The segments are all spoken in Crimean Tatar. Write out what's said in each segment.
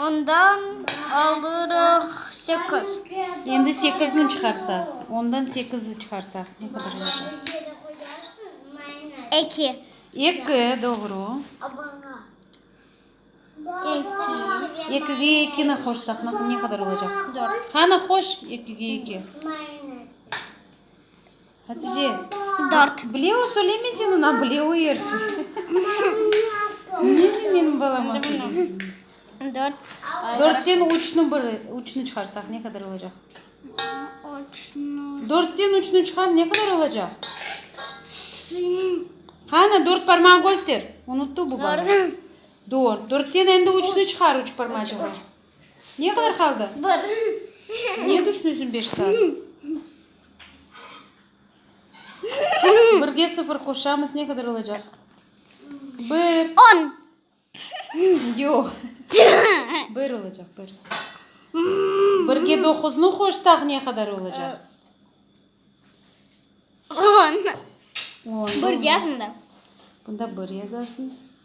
Ondan alırıq sekiz. Endi sekizni çıqarsaq. Ondan sekizni çıqarsaq ne qadar olacaq? Eki. Eki, doğru. Eki. Ekige ekini qoşsaq ne qadar olacaq? Dört. Qani, qoş ekiga eki. Hatice, dört. Bleu söyleme sen ona, bleu yersiz. Niye sen benim balama söyleysin? Dört. Dörtten üçnü bir, üçnü çıqarsaq ne qadar olacaq? Üçnü. Dörtten üçnü çıqar, ne qadar olacaq? Qani, dört parmağı köster. Unuttu bu bala. Dört. Dört. Dörtten endi üçnü çıqar, üç parmacığı. Ne qadar qaldı? Bir. Niye düşünüsün beş saat? Birge sıfır qoşamız, ne qadar olacaq? Bir. On. Yoq. Bir olacaq, bir. Birge doquznı qoşsaq, ne qadar olacaq? On. On. Bir yazmda. Bunda bir yazasıñ.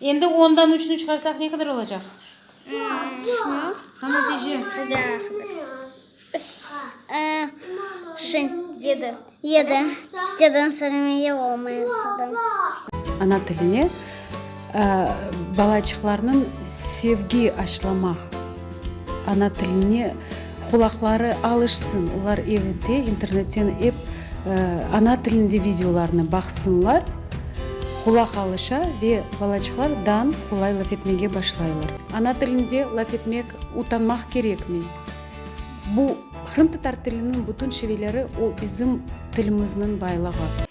Endi ondan üçni çıqarsaq ne qadar olacaq? Şunı. Ha, netice? Hadi Şin. Yedi. Yedi. Siteden Sırımiye olmayasıdı. Ana tiline balaçıqlarnıñ sevgi aşılamaq, ana tiline Qulaqları alışsın, olar evde internetten ep ana tilinde videolarnı baqsınlar, qulaq alışa ve balaçıqlar dan qolay laf etmege başlaylar. Ana tilinde laf etmek utanmaq kerekmi? Bu, qırımtatar tiliniñ bütün şiveleri, o bizim tilimizniñ baylığı.